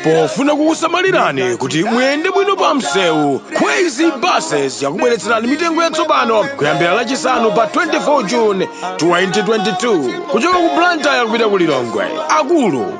pofuna kukusamalirani kuti muyende bwino pa msewu kwezy buses yakubweretserani mitengo yatsopano kuyambira lachisanu pa 24 june 2022 kuchoka ku blantyre kupita ku lilongwe akulu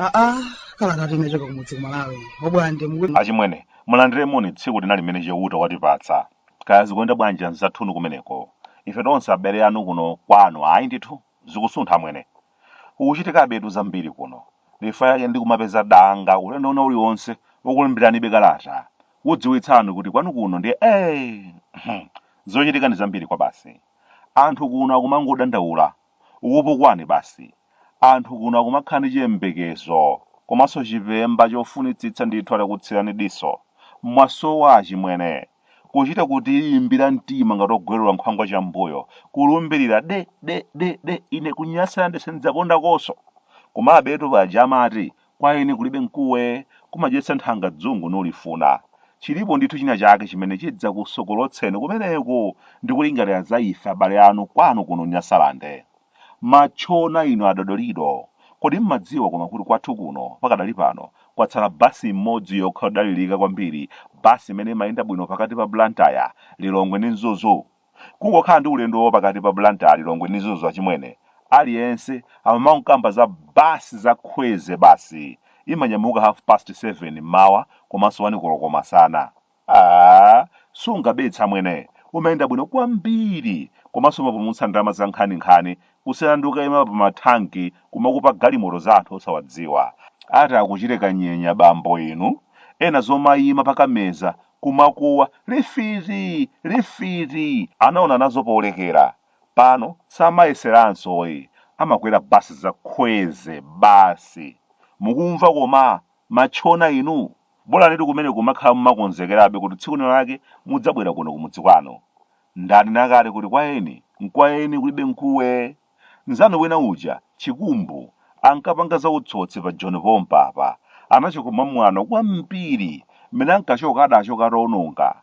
aa kalatatu inachoka kumudzi ku malawi obwande mukuti achimwene mulandire moni tsiku lina limene chauta watipatsa kaya zikuenda bwanji anzathunu kumeneko ife tonse abale anu kuno kwanu ayi ndithu Zikusuntha amwene. Kukuchitikabetu zambiri kuno. Chifukwa chake ndikumapeza danga ulendo wina uliwonse wokulemberanibe kalata kukudziwitsani kuti kwanu kuno ndiye eeh! Zochitika ndi zambiri kwabasi. Anthu kuno akumangodandaula, kukupukwani basi. Anthu kuno akumakhala ndi chiyembekezo komanso chipemba chofunitsitsa ndithu atakutsirani diso. Mwasowa achimwene. kuchita kutiyimbira mtima ngati ogwerera nkhwangwa cham'mbuyo, kulumbirira de de de de ine ku Nyasalande sindidzapondakonso. Komabetu paja amati, kwa eni kulibe mkuwe, kumadyetsa nthanga dzungu nulifuna. Chilipo ndithu china chake chimene chidzakusokolotseni kumeneku ndi kulingalira za ife abale anu kwanu kuno Nyasalande. Matchona inu a Dodolido, kodi mmadziwa koma kuti kwathu kuno pakadali pano kwatsala bus imodzi yokha yodalirika kwambiri, bus imene imayenda bwino pakati pa Blantyre, Lilongwe ndi Mzuzu? Kungokhala ndi ulendo wa pakati pa Blantyre, Lilongwe ndi Mzuzu achimwene, aliyense amangokamba za bus za Kwezy basi, imanyamuka half past 7 mmawa komanso 1 koloko masana. Aaa sungabetse amwene umayenda bwino kwambiri komanso umapulumutsa ndalama zankhaninkhani kusiyana ndi kukaima pa ma tank kumakupa galimoto za anthu osawadziwa. Ati akuchite kanyenya bambo inu, ena zomaima pa Kameza kumakuwa lifiti! lifiti! anaona nazo polekera. Pano samayeseranso ayi, amakwera bus za Kwezy basi. Mukumva koma? Matchona inu! Bolanitu kumeneko kumakhala mumakonzekerabe kuti tsiku lina lake mudzabwera kuno kumudzi kwanu. Ndanena kale kuti kwa eni nkwa eni kulibe mkuwe. Nzanu wina uja, Chikumbu, ankapanga za utsotsi pa Joni pompapa. Anachoka mwamwano kwambiri. Mmene ankachoka adachoka ataononga.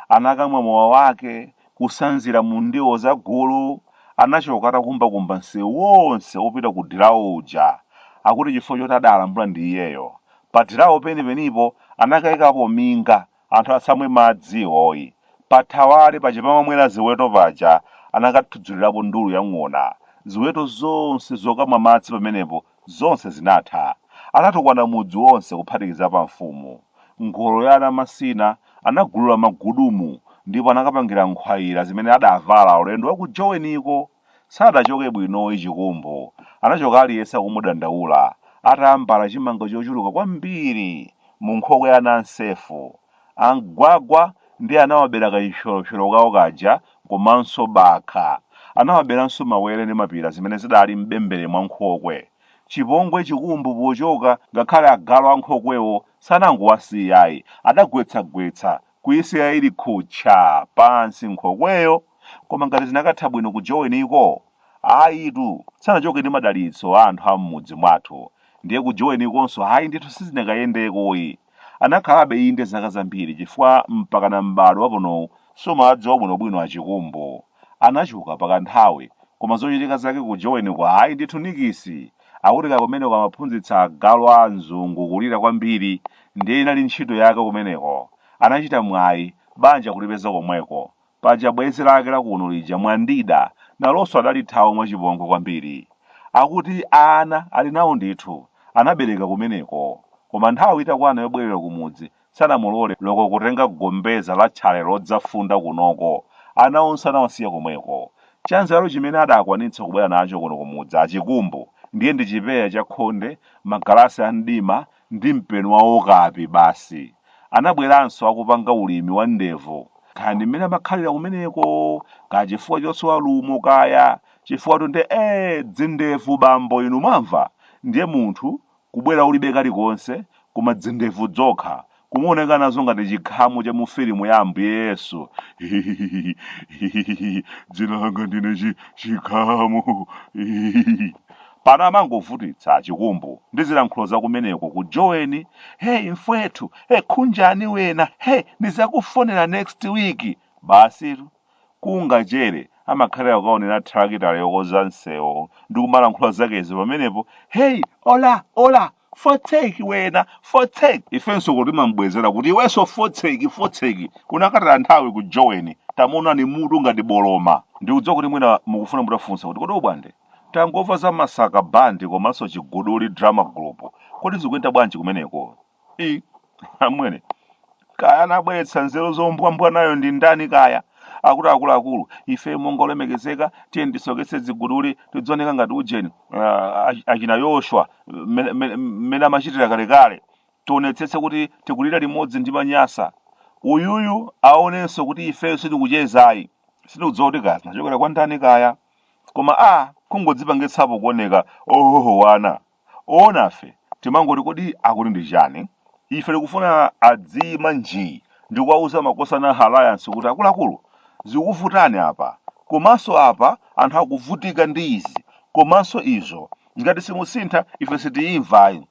Anakamwa mowa wake. kusanzira mu ndiwo za gulu, anachoka atakumbakumba msewu wonse wopita ku dilawo uja. Akuti chifukwa choti adaalambula ndi iyeyo. Pa dilawo penipenipo anakaikapo minga, anthu asamwe madzi iwoyi. Pa thawale paja pamamwera ziweto paja anakathudzulirapo ndulu ya ng'ona. Ziweto zonse zokamwa madzi pamenepo Zonse zinatha. Anatukwana mudzi wonse kuphatikizapo amfumu. Ngolo ya Anamasina anagulula magudumu ndipo anakapangira nkhwayira zimene adavala ulendo wa ku Joweniko. Sadachoke bwinoyi Chikumbu. Anachoka aliyense akumudandaula, atambala chimanga chochuluka kwambiri munkhokwe ya Anansefu. A Mgwagwa ndiye anawabera kachipsyolopsyolo kawo kaja komanso bakha. Anawaberanso mawere ndi mapira zimene zidali m'bembere mwa nkhokwe. Chipongwe Chikumbu pochoka ngakhale agalu a nkhokwewo sanangowasiya ayi, adagwetsagwetsa, kuyisiya ili khutcha pansi nkhokweyo koma ngati zinakatha bwino ku joweniko? Ayitu, sanachoke ndi madalitso a anthu a m'mudzi mwathu. Ndiye ku jowenikonso ayi ndithu sizinakayendekoyi. Anakhalabe inde zaka zambiri chifukwa mpakana m'bado waponowu sumawadziwa bwinobwino a Chikumbu. Anachoka pakanthawi koma zochitika zake ku Joweniko ayi ndithu nikisi! Akuti kaya kumeneko amaphunzitsa agalu a anzungu kulira kwambiri ndiye inali ntchito yake kumeneko. Anachita mwayi, banja kulipeza komweko. Paja bwenzi lake la kuno lija Mwandida nalonso adalithawa mwachipongwe kwambiri. Akuti ana ali nawo ndithu, anabereka kumeneko. Koma nthawi itakwana yobwerera kumudzi, sanamulole loko kutenga gombeza la tchale lodzafunda kunoko. Ana onse anawasiya komweko. Chanzeru chimene adakwanitsa kubwera nacho kuno kumudzi a Chikumbu ndiye ndi chipeya cha khonde, magalasi a mdima, ndi mpeni wa okapi basi. Anabweranso akupanga ulimi wa ndevu. Kaya ndi mmene amakhalira kumeneko, kaya chifukwa chosowa lumo kaya, chifukwatu nde ee dzindevu bambo inu mwamva? Ndiye munthu kubwera ulibe kalikonse koma dzindevu dzokha, kumaoneka nazo ngati chikhamu cha mu filimu ya Ambuye Yesu. Hihihihi, hihihihi, dzina langa ndine chi, chikhamu. Hihihihi. Pano amangovutitsa achikumbu ndi zilankhulo za kumeneko ku joweni hey mfwethu hey khunjani wena hey nizakufonela next week basitu kungachere amakhalira kukaonera thalakitala yokonza nsewu ndikumalankhula zakezi pamenepo hey ola ola fotseki wena fotseki ifenso kuno timambwezera kuti iwenso fotseki fotseki unakataya nthawi ku joweni tamuonani mutu ngati boloma ndikudziwa kuti mwina mukufuna mutafunsa kuti kodi bwande tangomva za masaka bandi komanso chiguduli drama group kodi zikuyenda bwanji kumeneko amwene kaya anabweretsa nzeru zombwambwanayo ndi ndani kaya akuti akuluakulu ife monga olemekezeka tiye ndisoketse ziguduli tidzaoneka ngati ujeni achina yoshwa mmene amachitira kalekale tionetsetse kuti tikulira limodzi ndi manyasa uyuyu aonenso kuti ifeyo sitikuchezayi sitikudziwa kuti ka zinachokera kwa ndani kaya koma a kungodzipangitsapo kuoneka ohohowana Oonafe timangoti kodi akuti ndi chani? Ife tikufuna adziima njii ndikuwauza makosana a Alliance kuti akuluakulu, zikuvutani apa komanso apa anthu akuvutika ndi izi komanso izo. Ngati simusintha ife sitiimva ayi.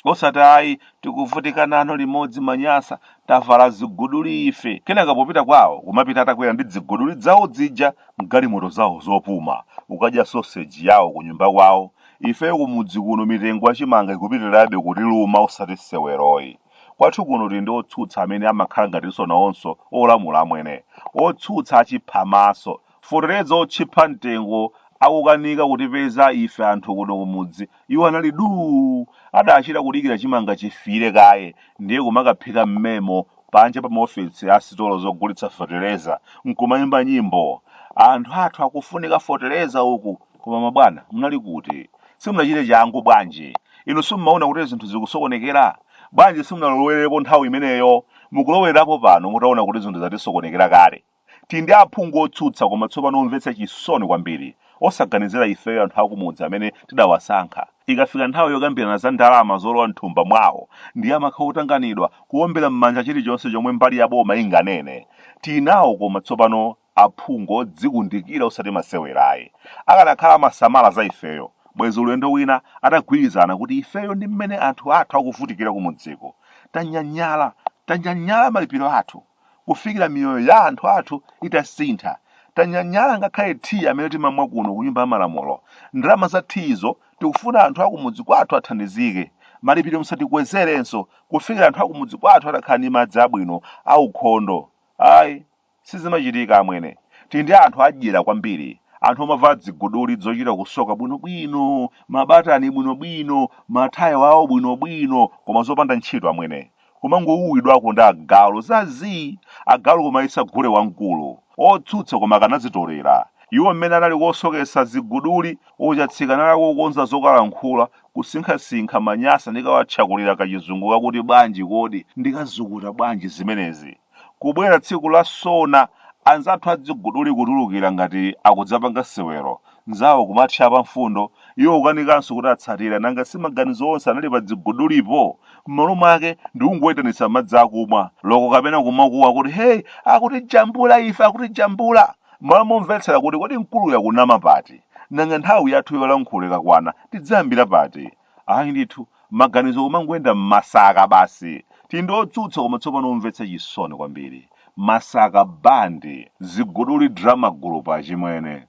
Osati ayi tikuvutika nanu limodzi manyasa, tavala ziguduli ife. Kenaka popita kwawo kumapita atakwera ndi dziguduli dzawo dzija mgalimoto zawo zopuma, kukadya sausage yawo kunyumba kwawo. Ifeyo kumudzi kuno mitengo ya chimanga ikupitirirabe kutiluma osati seweroyi. Kwathu kuno tili ndi otsutsa amene amakhala ngatinso nawonso olamula amwene. Otsutsa achiphamaso. Fotereza otchipha mtengo akukanika kutipeza ife anthu kuno kumudzi iwo anali duu! Adachita kudikira chimanga chifire kaye ndiye kumakaphika m'memo panja pa maofesi a sitolo zogulitsa fetereza n'kumaimba nyimbo. Anthu athu akufunika fotereza uku! Koma mabwana, munali kuti? Simunachite changu bwanji? Inu simumaona kuti zinthu zikusokonekera? Bwanji simunalowerepo nthawi imeneyo? Mukulowerapo pano mutaona kuti zinthu zatisokonekera kale. Ti ndi aphungu otsutsa koma tsopano omvetsa chisoni kwambiri, osaganizira ifeyo anthu akumudzi amene tidawasankha. Ikafika nthawi yokambirana za ndalama zolowa m'thumba mwawo, ndiye amakhala otanganidwa, kuombera m'manja chilichonse chomwe mbali ya boma inganene. Tinawo koma tsopano aphungu odzikundikira osati masewerayi. Akanakhala amasamala za ifeyo, bwezi ulendo wina atagwirizana kuti ifeyo ndi mmene anthu athu akuvutikira kumudziko. Tanyanyala, tanyanyala malipiro athu kufikira miyoyo ya anthu athu itasintha. Tanyanyala ngakhale thiyi amene timamwa kuno ku nyumba ya malamulo. Ndalama za thiyizo tikufuna anthu akumudzi kwathu athandizike. Malipiro musatikwezerenso kufikira anthu akumudzi kwathu atakhala ndi madzi abwino aukhondo. Ayi. Sizimachitika amwene. Ti ndi anthu adyera kwambiri, anthu omavala dziguduli dzochita kusoka bwinobwino, mabatani bwinobwino, mathayo awo bwinobwino koma zopanda ntchito amwene. Kumangouwidwako ndi agalu za zii! Agalu kumayesa gule wamkulu. Otsutsa koma akanadzitolera. Iwo mmene anali kosoketsa ziguduli uja Chatsika anali kukonza zokalankhula, kusinkhasinkha manyasa ndikawatchakulira kachizungu kakuti bwanji kodi, ndikazukuta bwanji zimenezi. Kubwera tsiku la sona anzathu adziguduli kutulukira ngati akudzapanga sewero, nzawo kumatchapa mfundo, iwo kukanikanso kuti atsatira, nanga si maganizo onse anali pa dzigudulipo? M'malo mwake ndikungoitanitsa madzi akumwa, loko kapena kumakuwa kuti hey akutijambula ife akutijambula! M'malo momvetsera kuti kodi mkuluyu akunama pati? Nanga nthawi yathu yolankhula ikakwana tidzayambira pati? Ayi ndithu, maganizo kumangoyenda mmasaka basi. Tindi otsutsa koma tsopano omvetsa chisoni kwambiri. Masaka band, Ziguduli Drama Group achimwene.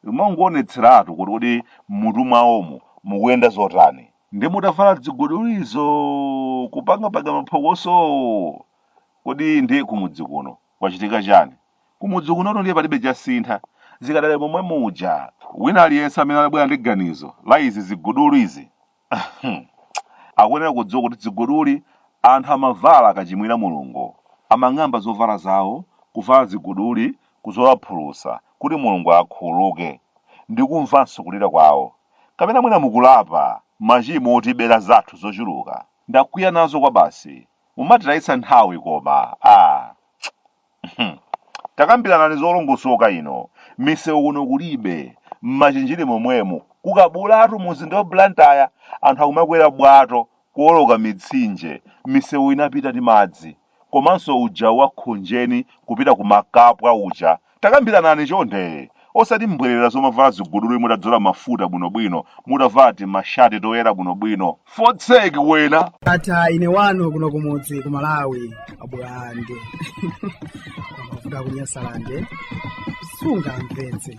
Umangoonetseratu kuti kodi mmutu mwawomo mukuyenda zotani. Nde mutavala dzigudulizo kupangapanga maphokosowo kodi nde kumudzi kuno kwachitika chani? Kumudzi kunotu ndiye palibe chasintha, zikadali momwe muja. Wina aliyense amene anabwera ndi ganizo la izi ziguduli izi akuyenera kudziwa kuti ziguduli anthu amavala akachimwira Mulungu. Amang'amba zovala zawo, kuvala ziguduli, kuzola phulusa kuti Mulungu akhululuke ndi kumvanso kulira kwawo. Kapena mwina mukulapa machimo otibera zathu zochuluka? Ndakwiya nazo kwabasi. Mumatitayitsa nthawi koma. Aaa. Hmm. takambiranani zolongosoka ino misewu kuno kulibe mmachinjiri momwemu kukabulatu muzinda wa blantyre anthu akumakwera bwato kuoloka mitsinje misewu inapita ndi madzi komanso uja wa khonjeni kupita ku makapwa uja takambiranani chonde osati mbwerera zomavala ziguduli mutadzola mafuta bwinobwino mutavala timashati toyera bwinobwino fotseki wena ata ine wanu kuno kumudzi ku malawi abwande kuda kunyasalande sunga mpenzi